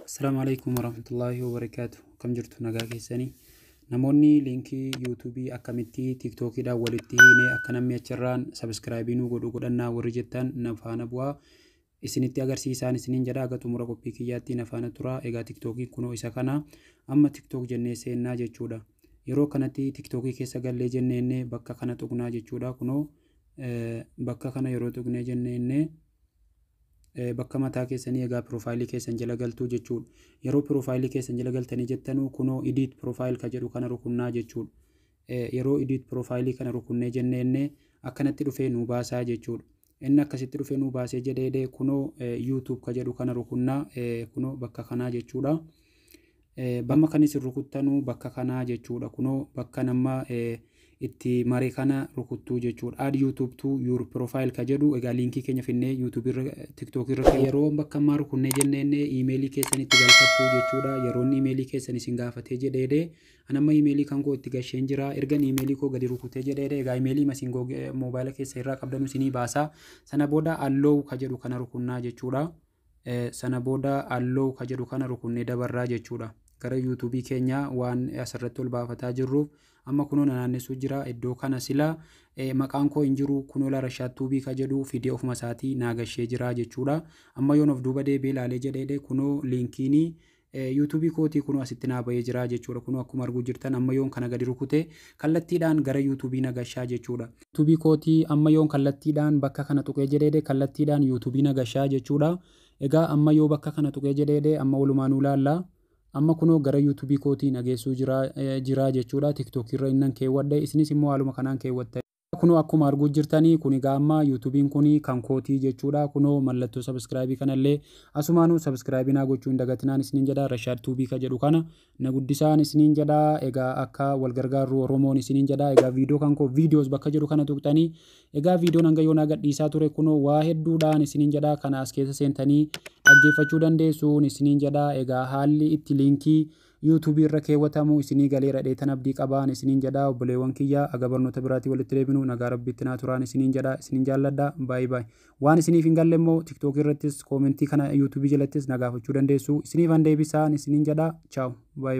Assalaamu alaikum warahmatullaahi wabarakaatu. Akkam jirtu nagaa keessanii? Namoonni liinkii yuutuubii akkamitti tiiktookiidhaan walitti hiinee akka namni achirraan sabiskiraayibii nuu godhu godhannaa warri jettan na faana bu'aa. Isinitti agarsiisaan isiniin jedha aga xumura qophii kiyyaatti na faana tura. Egaa tiiktookiin kunoo isa kana amma tiiktook jennee seennaa jechuudha. Yeroo kanatti tiiktookii keessa gallee jenneenne bakka kana tuqnaa jechuudha. Kunoo bakka kana yeroo tuqnee jenneenne bakka mataa keessanii egaa piroofaayilii keessan jala galtuu jechuudha. Yeroo piroofaayilii keessan jala galtanii jettanuu kunoo idiit piroofaayil ka jedhu kana rukunnaa jechuudha. Yeroo idiit piroofaayilii kana rukunnee jennee inni akkanatti dhufee nuu baasaa jechuudha. Inni akkasitti dhufee nuu baasee jedheedee kunoo yuutuub ka jedhu kana rukunnaa kunoo bakka kanaa jechuudha. Bamma kan isin rukuttanu bakka kanaa jechuudha kunoo bakkan amma itti mare kana rukuttuu jechuudha add youtube to your profile ka jedhu egaa liinkii keenya finnee youtube irra tiktok irra yeroo bakka ammaa rukunnee jenneen iimeelii keessan itti galfattuu jechuudha yeroon iimeelii keessan isin gaafatee jedheede anamma iimeelii kan koo itti gasheen jira ergan iimeelii koo gadi rukutee jedheede egaa iimeelii masin moobaayila keessa irraa qabdanu isinii baasaa sana booda alloo ka jedhu kana rukunnaa jechuudha Sana booda Allow ka jedhu kana rukunnee dabarra jechuudha. Gara YouTube keenya waan asirratti ol baafataa jirruuf amma kunoo na naannessuu jira. Iddoo kana sila maqaan koo hin jiru kunoo la Rashaad Tuubii ka jedhu fidee ofuma isaatii naa gashee jira jechuudha. Amma yoon of duuba deebi'ee ilaalee jedheedhe kunoo liinkiinii YouTube kootii kunoo asitti naa bahee jira jechuudha kunoo akkuma arguu jirtan amma yoon kana gadi rukute kallattiidhaan gara YouTube na gashaa jechuudha. YouTube kootii amma yoon kallattiidhaan bakka kana tuqee jedheedhe kallattiidhaan YouTube na gashaa jechuudha. Egaa amma yoo bakka kana tuqee jedheedhe amma walumaanuu ilaalla. Amma kunoo gara YouTube kootii na geessuu jira jira jechuudha. TikTok irra innan keewwadhe isinis immoo haaluma kanaan keewwattanii. Kunoo akkuma arguu jirtani kun egaa amma yuutubiin kun kan kootii jechuudha kunoo mallattoo sabiskiraabii kanallee asumaanuu sabiskiraabii naa gochuu hin dagatinaan isiniin jedha Rashaad Tuubii ka jedhu kana na guddisaan isiniin jedha egaa akka wal gargaarru Oromoon isiniin jedha egaa viidiyoo kan koo viidiyoos bakka jedhu kana tuqxanii egaa viidiyoon hanga yoonaa gadhiisaa ture kunoo waa hedduudhaan isiniin jedha kana as keessa seentanii dhaggeeffachuu dandeessuun isiniin jedha egaa haalli itti liinkii YouTube irra keewwatamu isinii galeera dheetan abdii qabaan isiniin jedha obboleewwan kiyya aga barnoota biraatii walitti deebinu nagaa rabbiitti naa turaan isiniin jedha isinin jaalladha by by waan isiniif hin galle immoo tiktok irrattis koomentii kana YouTube jalattis na gaafachuu dandeessu isiniifan deebisaan isiniin jedha ciao by